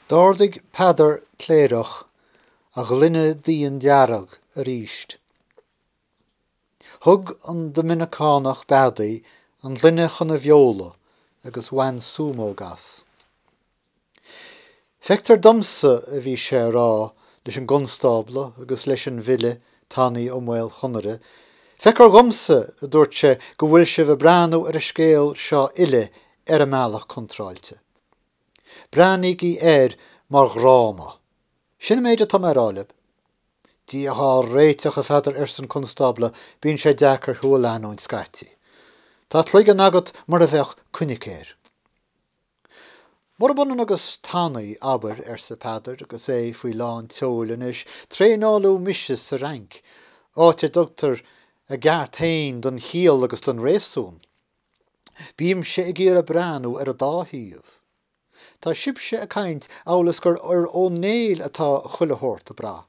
D'ardaigh Peadar Cléireach a ghloine d'fhíon dearg arís. Thug an Doiminiceánach beadaí an ghloine chun a bheola agus bhain súmóg as. Feictear dhomsa, a bhí sé a rá leis an gconstábla agus leis an bhfile Tanaí Ó Maol Chonaire, feictear dhomsa, a dúirt sé, go bhfuil sibh ag breathnú ar an scéal seo uile ar an mbealach contráilte. Breathnaígí air mar dhráma. Sin an méid atá mé a rá libh. Dia dhá réiteach, a Pheadair, arsa an Constábla, bíonn sé deacair thú a leanúint scaití. Tá cloigeann agat mar a bheadh coinicéar. Murab ionann agus tanaí, abair, arsa Peadar agus é faoi lán tseoil anois, traenáladh mise sa Fhrainc, áit a dtugtar a gceart fhéin don chiall agus don réasún. Bímse ag iarraidh breathnú ar an dá thaobh. Tá sibhse ag caint amhail is gur ar Ó Néill atá chuile shórt ag brath.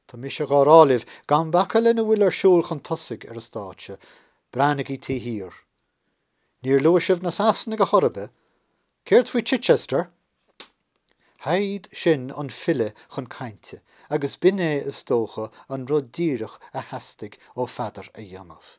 Tá mise dhá rá libh, gan bacadh lena bhfuil ar siúl chun tosaigh ar an stáitse, breathnaígí taobh thiar. Níor luaigh sibh na Sasanaigh ar chor ar bith. Céard faoi Chichester? Shaighid sin an file chun cainte agus b'in é, is dócha, an rud díreach a theastaigh ó Pheadar a dhéanamh.